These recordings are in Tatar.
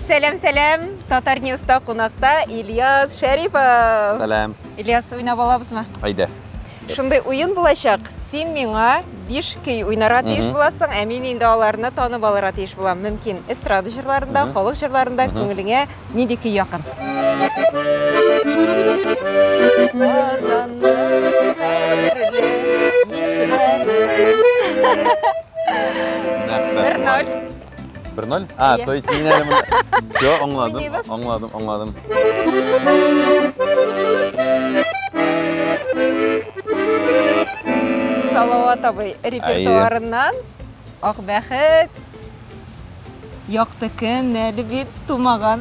Сәләм, сәләм! Татар Ньюста кунакта Ильяс Шәрипов. Сәләм. Ильяс, уйнап алабызмы? Әйдә. Шундый уен булачак. Син миңа биш көй уйнарга тиеш буласың, ә мин инде аларны танып алырга тиеш булам. Мөмкин, эстрада җырларында, халык җырларында күңелеңә нинди көй якын? Бер ноль. 1-0? А, то есть мин әле монда... Все, аңладым, аңладым, аңладым. Салават абый репертуарыннан Ак бәхет, Якты көн, әле бит тумаган.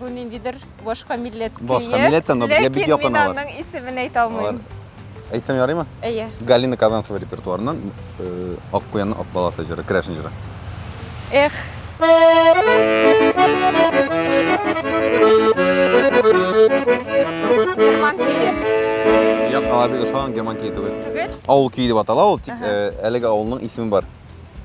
Бу ниндидер башка милләт көе. Башка милләттән, но безгә бик якын алар. Ләкин мин аның исемен әйтә алмыйм. Әйтсәм ярыймы? Әйе. Галина Казанцева репертуарыннан э, Ак куянның ак баласы җыры, Крәшин җыры. Эх. Герман көе. Як алабига шаган герман көе түгел. Түгел? Авыл көе дип атала ул, тик э, әлеге авылның исеме бар.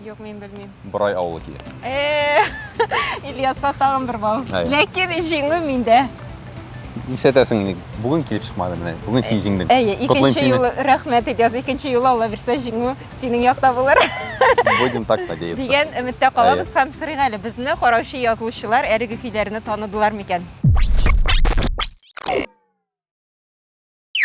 Юк, мин белмим. Борай авылы килә. Э, Ильяска тагын бер бал. Әй. Ләкин җиңү миндә. Нишләтәсең инде? Бүген килеп чыкмады менә. Бүген син җиңдең. Әйе, Котлыйм икенче сине. юлы рәхмәт Ильяс, икенче юлы Алла бирсә җиңү синең якта булыр Будем так надеяться. дигән өметтә калабыз һәм сорыйк әле, безне караучы язылучылар әлеге көйләрне таныдылар микән?